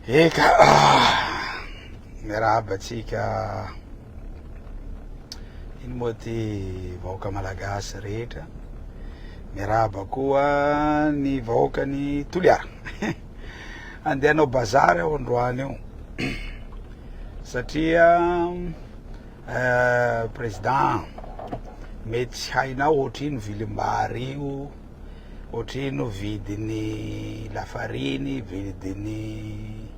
Eka ah, miarahaba antsika iny moa ty vahoaka malagasy rehetra miarahaba koa ny vahoaka ny toliara andeha anao bazary aho androany io satria eh, président mety tsy hainao ohatr'ino vilimbary io Ohatrino vidin'ny lafariny, vidin'ny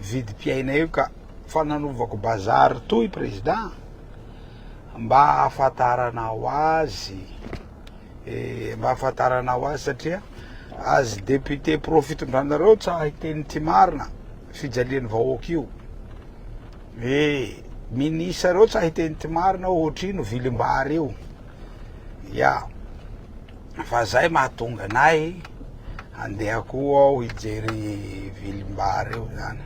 vidim-piaina io ka. Fa nanovako bazary toy président mba hahafantarana ho azy, mba hahafantarana ho azy satria azy député pro fitondranareo tsa hiteny tsy marina fijalian'ny vahoaka io. Eh, minisareo tsa hiteny tsy marina ohatrino vilim-bary io. ya fa zay mahatonga anay handeha koa ao hijery vilimbar io zany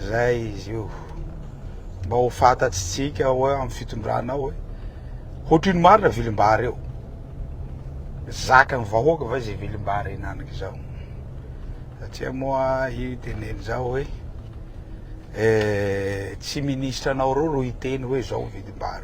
zay izy io mba ho fantatsitsika hoe amin'ny fitondrana hoe hoatriny marina vilimbar io zakan'ny vahoaka va izay vilimbar inanaka izao satria moa io teneny zao hoe eh, tsy ministra anao reo ro hiteny hoe zao vilimbar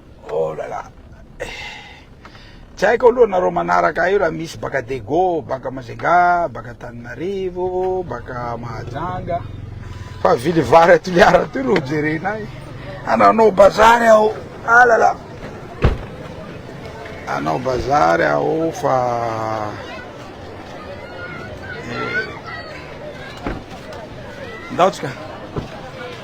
Oh là là eh! Tsy haiko aloha nareo manaraka ahy io raha misy baka Dego, baka Majunga, baka Antananarivo, baka Mahajanga fa vily vary à Toliara aty no hojerenay. Ananao bazary aho. Ah là là. Anao bazary aho fa eh. Ndaotsika.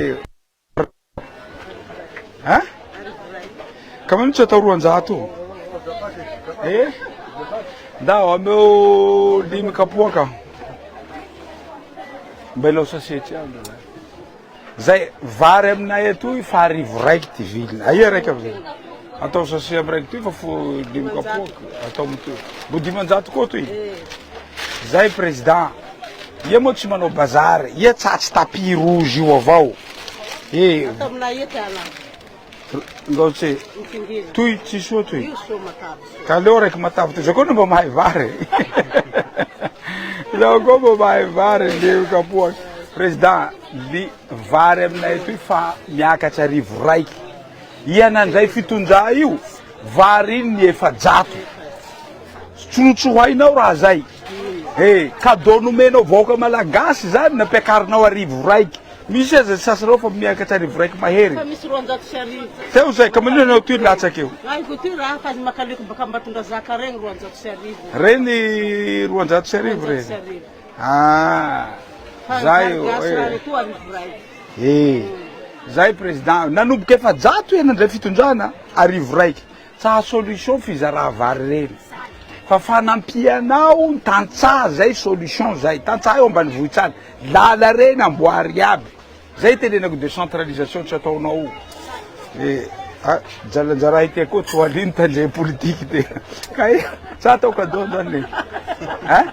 Hein? Quand même tsy atao roanjato e. Eh? Ndao ameo dimy kapoaka. Mba ilao sasety aby. Zay vary aminay atoy fa arivo raiky ty viliny. Aia raiky avy. Atao sasety am raiky ty fa fo dimy kapoaka atao mitoy. Bo dimanjato koa toy. Zay président. Ia moa tsy manao bazary? Ia tsatsy tapis rouge io avao e? Ndao tse toy tsy soa toy. Ka aleo raiky matavy toy zao koa no mba mahay vary e. Zao koa mba mahay vary le kapoaka. Président, ny vary aminay atoy fa miakatra arivo raiky Ia nandray fitondra io variny ny efajato tsy notsohainao raha zay e cadeau nomenao vahoaka malagasy zany nampiakarinao arivo raiky misy aza ny sasanao fa miakatra arivo raiky mahery teo zay ka manina anao ty latsaka eo reny roanjato sy arivo reny. Ah, zay io. Eh, zay président. Nanomboka efajato iha nandray fitondrana arivo raiky. Tsaha solution fizarà vary ireny. Fa fanampianao ny tantsaha zay solution zay. Tantsaha eo ambanivohitra any. Lala ireny amboary iaby. Zay tenenako décentralisation tsy ataonao. Eh, ah, jalanjara ite koa toaliny tandrem politique te. Kay, sa atao cadeau zany. Hein?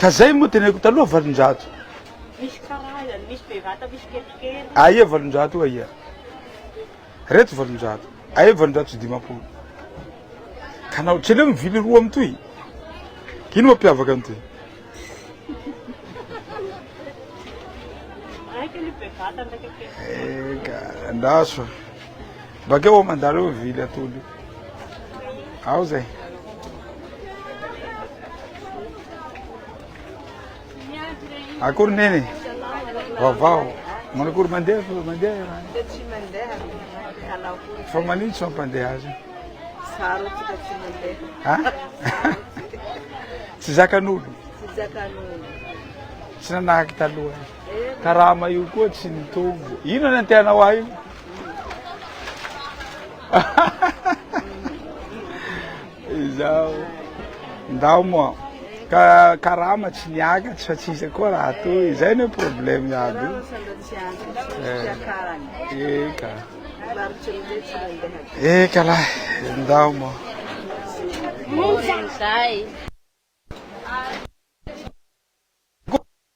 Ka zay moa teneniko taloha valonjato. Misy karazany, misy bevata, misy kelikely. Aia valonjato io aia? Reto valonjato. Aia valonjato sy dimampolo? Ka na ohatran'io mivily roa mitohy. Ka ino mampiavaka ny toy? Raika aloha bevata, ny raika kelikely. Eka, andraso a. Bakeo ao mandareo mivily atody io. Ao zay. Akory neny? Vaovao. Manakory mandeha fa mandeha ianao? Dia tsy mandeha hanao koa. Fa manino tsy mampandeha azy? Zaro tika tsy mandeha. Ha? Tsy zakan'olo. Tsy zakan'olo. Tsy nanahaky taloha. Eh, Karama io koa tsy nitombo. Inona ny antehanao ahy? Izao ndao moa ka karama tsy niakatra fa tsisy koa raha toy izay no problème iaby eka eka lahy ndao moa Zay.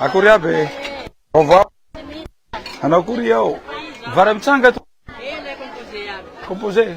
Akory aby e. Vaovao. Anao kory ao. Vara mitsanga to. Composé.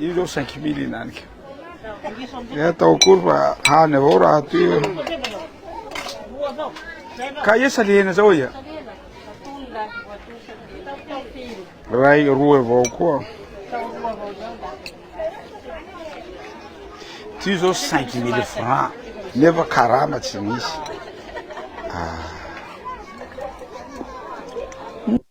Io zao cinq mille inanika. Dia atao akory fa hany avao raha toy io. Ka ia salehena zao ia? Ray roa avao koa. Ty zao cinq mille francs nefa karama tsy misy. Ah.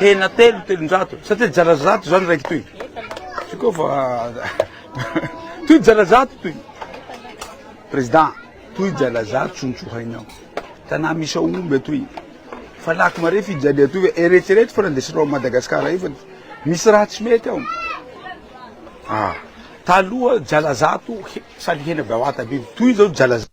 Hena telo, telonjato. Sa te jara zato zany raiky toy? Tsy koa fa toy jara zato toy. Président, toy jara zato sontsohainao. Tanà misy ao omby atoy. Fa lako mare fijalia atoy ve? Eretrereto fa nandesinao an'i Madagasikara io fa misy raha tsy mety ao. Ah, taloha jara zato he- sary hena be ao Atabevy. Toy izao jara zato.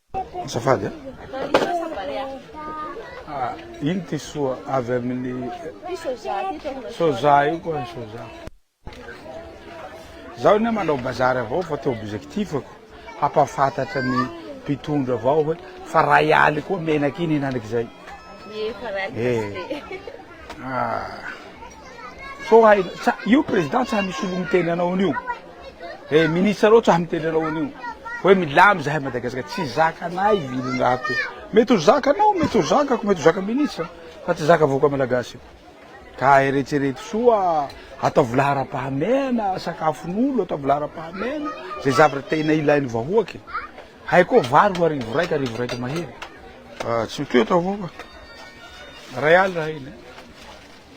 Azafady a. Ah, iny ty soa avy amin'ny soja io koa ny soja. Zaho anie manao bazary avao fa teo objectif-ko hampahafantatra ny mpitondra avao hoe fa ray aly koa menaka iny hinanak'izay. Ie fa ray aly eh. tsy Ah. Sao hay io président tsy hay misolo miteny anao an'io. eh ministre reo tsa miteny anao an'io hoe milamy zahay Madagascar tsy zakanay iny raha to mety ho zakanao mety ho zakako mety ho zaka ministre fa tsy zaka vahoaka malagasy io ka eretsereto soa ataovy laharam-pahamehana sakafon'olo ataovy laharam-pahamehana zay zavatra tena ilain'ny vahoaka e hay koa vary ho arivo raika arivo raika mahery ah, tsy mitohy atao vahoaka ray alina iny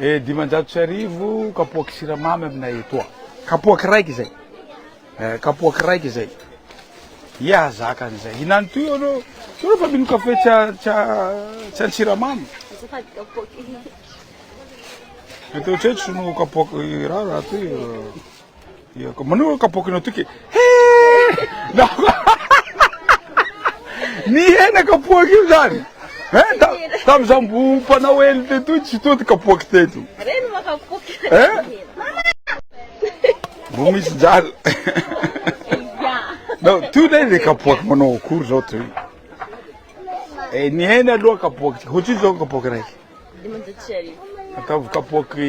Eh dimanjato sy arivo kapoaky siramamy aminay etoa. Kapoaky raiky izay. Eh kapoaky raiky izay. Ia hazaka an'izay. Hinany toy ianao. Ianao fa mino kafe tsy tsy tsy an-tsiramamy. Azafady kapoaky. Mety ohatreto sono kapoaky raha raha toy. Manoa kapoaky ny toky e! Nihena kapoaky io zany! Hein? Tamin'izaho mbo mpanao elo teto io tsy toa ty kapoaky teto! Reny moa kapoaky! Hein? Mbo misy jala! Nao toy lay le kapoaky manao akory zao toy! Eh nihena aloha kapoaky ty! Hoatrino zao kapoaky raiky? Dimanjato sy arivo. Ataovy kapoaky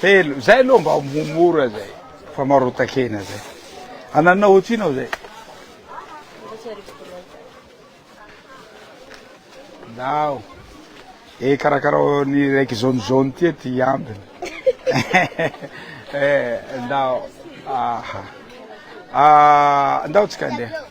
Telo, zay aloha mba mora zay, fa marotakena zay. Ananina ohatrina ao zay. Ndao. E karakarao ny raiky zone zone tia ty ambiny. Eh, ndao. Aha. Ah, ndao tsika ndeha.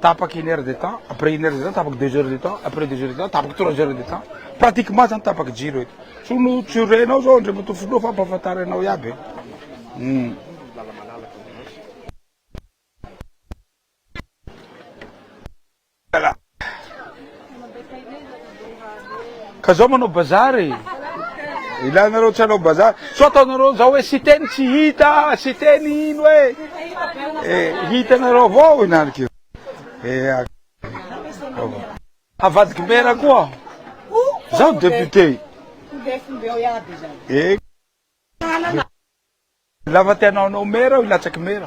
tapaka une heure de temps, après une heure de temps tapaka deux heures de temps, après deux heures de temps tapaka trois heures de temps, pratiquement zany tapaka jiro eto. Tsy no tsy renao zao Andriamatoa Filoha fa ampahafantarinao iaby. Hmm. Ka zao manao bazar e! Ilanareo tsy hanao bazar? Sao ataonareo zao hoe Siteny tsy hita, Siteny ino e! Eh, hitanareo avao inarik'io. Eh, avadiky maire koa zao député. Eh, la fa te hanao anao maire aho hilatsaky maire.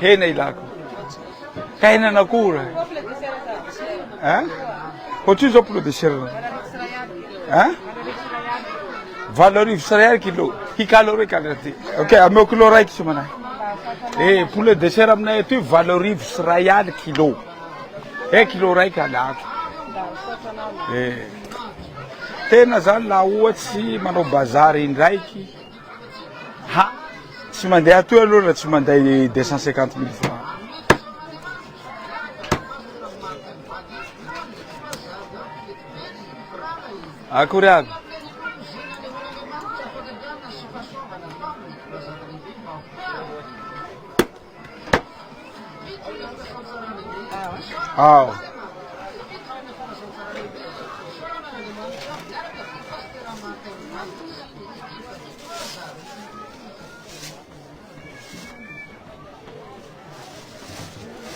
Hena ilako. Ka henan'akoho ra. Eh? Hoatr'io zao poulet de chair. Eh? Valo arivo sy ray kilo. Hikalo reo kalo ty. Ok, ameo kilo raiky tsy manahy. Eh, poulet de chair aminay aty valo arivo sy ray kilo. Eky lo raika alako e tena zany la ohatsy manao bazary indraiky ha tsy mandeha atoy aloha la tsy manday deux cent cinquante mille francs akory aby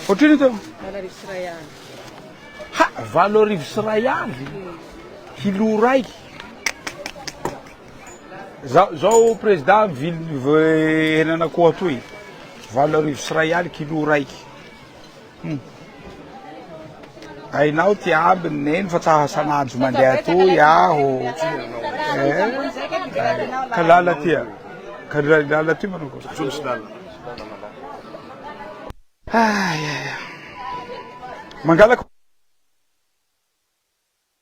Ohatrino teo? Valo arivo sy iray aly. Ha, valo arivo sy iray aly? Kilo iray? Za, zao président ville henan'akoho atoy, valo arivo sy ray aly kilo raiky, hum hainao ty ambiny neny fa tsa san'andro mandeha atoy aho eh, ka lala ty a, ka lala ty manao akory, zao misy lala, ah ya ya, mangalaka.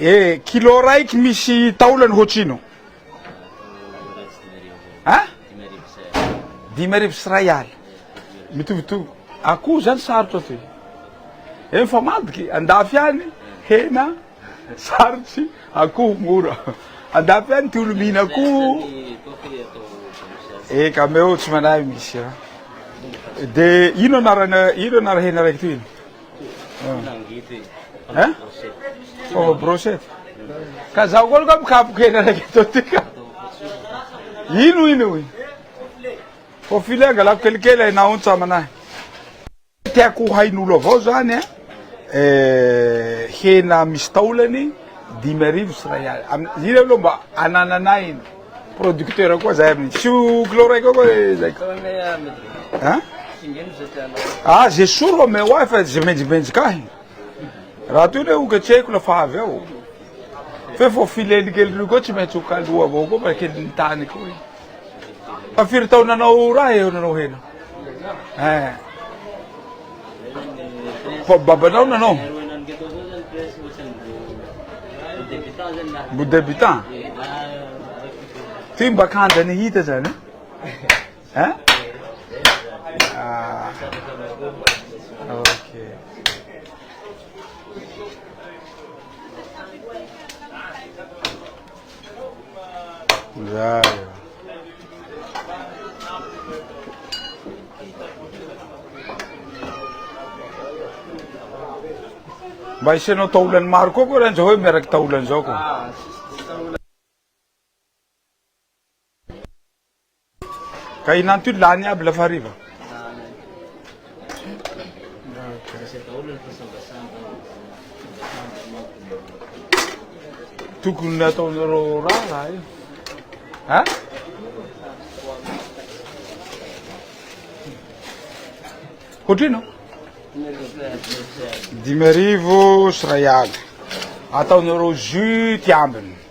E! Kilo raiky misy taolany hoatrino? A! Dimy arivo sy ray alina. Mitovitovy. Akoho zany sarotra ty. E mifamadika e! Andafy any hena sarotry, akoho mora. Andafy any ty olo mihina akoho. E ka meo tsy manahy misy a! De ino anarana ino anara hena raiky toy iny? Fomba brochette. Ka zaho koa aloha mikapoka hena araiky atao ty ka. Ino ino io? Faux filet angalako kelikely hay na ontsa aman'ahy. Tiako ho hain'olo avao zany an, hena misy taolany dimy arivo sy iray alina, iny aloha mba anananay iny. Producteur koa zay aminy tsy ho kilo raika eo koa zay ka. An? Ah ze soa ro omeo ahy fa ze menjimenjika ahy. Raha toy le hoketsehiko la fa avy eo. Fe vao fileny kely reo koa tsy maintsy ho kaloa avao koa fa kely ny tany koa e. Fa firy taona anao raha eo nanao hena? eh. fa babanao nanao mbo debutant ty mba kanja ny hita zany eh? eh? ah. Mba isianao taolany maro koa koa raha zao hoe miaraka taolany zao koa. Ka i Lanto io lany aby la fa hariva. Tokony nataonareo raharaha io. Ha? Hoatrino? Dimy arivo sy ray aly. Ataonareo jus ty ambiny.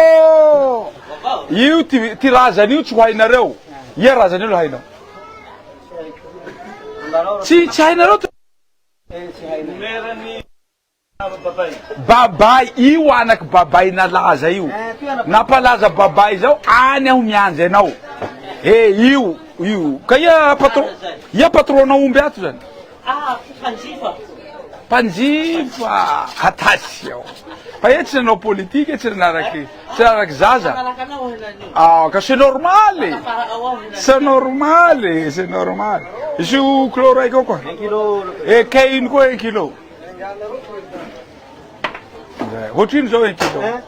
Oh! Io ty, ty razany io tsy ho hainareo. Ia razany io le hainao? Tsy, tsy hainareo ty. Babay, io anak'i Babay nalaza io. Nampalaza Babay zao any aho miandry anao. Eh, io, io. Ka ia patron, ia patron-nao omby ato zany? Ah! Mpanjifa aho. Mpanjifa! Atasiao! Fa ianao tsy nanao politika, tsy nanaraky, tsy nanaraky zaza. Manaraka anao aho henany io. Ah, ka c'est normal e. Tafara'ao aho henany. C'est normal e, c'est normal. Izy io kilo raika io koa. Un kilo. Eh, kay iny koa un kilo. Ohatrino zao eky zao? Eh?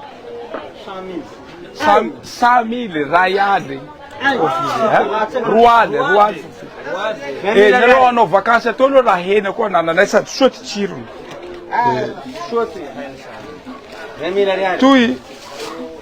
Cent cent mille ray aly roa aly roa aly eh nareo hanao vakansy atao aloha raha hena koa anananay sady soa ty tsirony ah, eh. soa ty toy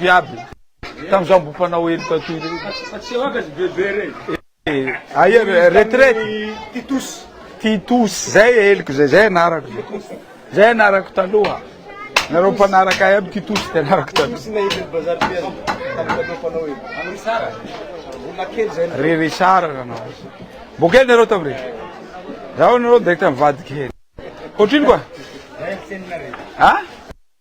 Iaby. Tam zao mbo mpanao heloka toy ireny. Fa tsy eo aby ry bebe reny. Eh, aia retraite? Titus. Titus, zay heloko zay, zay anarako zay. Zay anarako taloha. Nareo mpanaraka ahy aby Titus de anarako taloha. Titus na Evel Bazar Piel. Taloha mpanao heloka. Am Richard. Mbola kely zay. Ry Richard anao. Mbo kely nareo tam re. Zaho nareo direct mivadika helo. Otrino koa? Zay ny teninareo. Ha?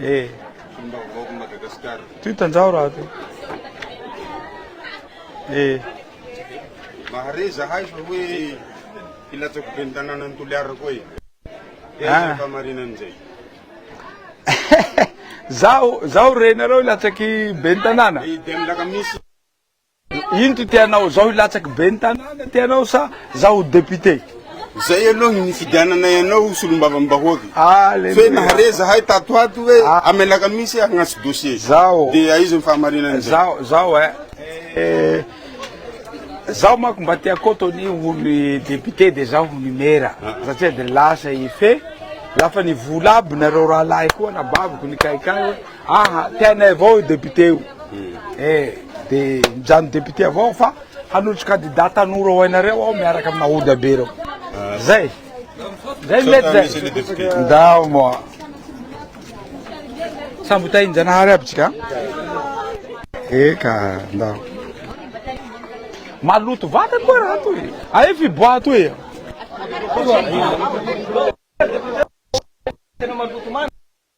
Eh. Fonom-baovaon'i Madagasikara. Ty tanjaho raha ty. Eh. Mahare zahay fa hoe hilatsako ben'ny tanànan'i Toliara koa e. Dia ah. izay fahamarinana izay. Zaho zaho renareo hilatsaky ben'ny tanàna. Dia eh, milaka misy. Ino ty tianao? Zao hilatsaky ben'ny tanàna tianao sa zao ho député? Zay aloha ny nifidiananay anao ho solombavambahoaka fe nahare zahay tato ato hoe am alakamisy hagnatso dossier de aiza ny fahamarinan'izay? Zao eh zaho manko mba te hakoto ny ho ny député de zaho ho ny mera satria de lasa i fe lafa ny vola aby nareo rahalahy koa anabaviko nikaikahy hoe Aa tianay avao io député io e de mijanona député avao aho fa hanolotry candidat tanora ho hainareo aho miaraka amina Oda be reo zay zay mety zay ndao moa sambo tahin janahary aby tsika eka ndao maloto vata koa raha toy e. ae fiboaha toy e. Tena maloto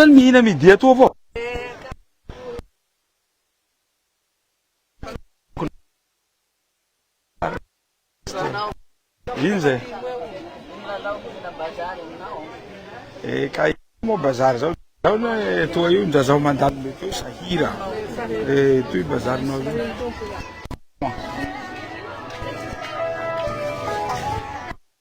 zany mihina midi atoa fô ino zay eh kay moa bazary zao zao na etoa io ndra zaho mandalo mety eo sahira eh toy bazarinao io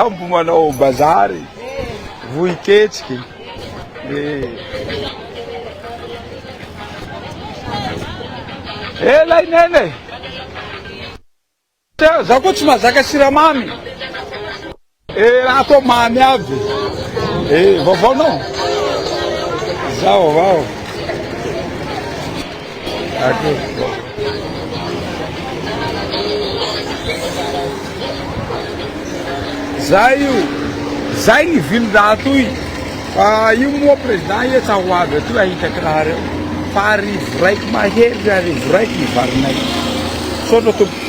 Sambo manao bazary, vohiketsiky, eh. Eh lay Neny eh. Tena za koa tsy mazaka siramamy. Eh raha atao mamy aby. Eh vaovao nao. Zao vao. Zay io, zay ny viny raha toy fa io moa président etsy ho avy aty hahita kiraro fa arivo raiky mahery ry arivo raiky ny varinay. Misaotra tompoko.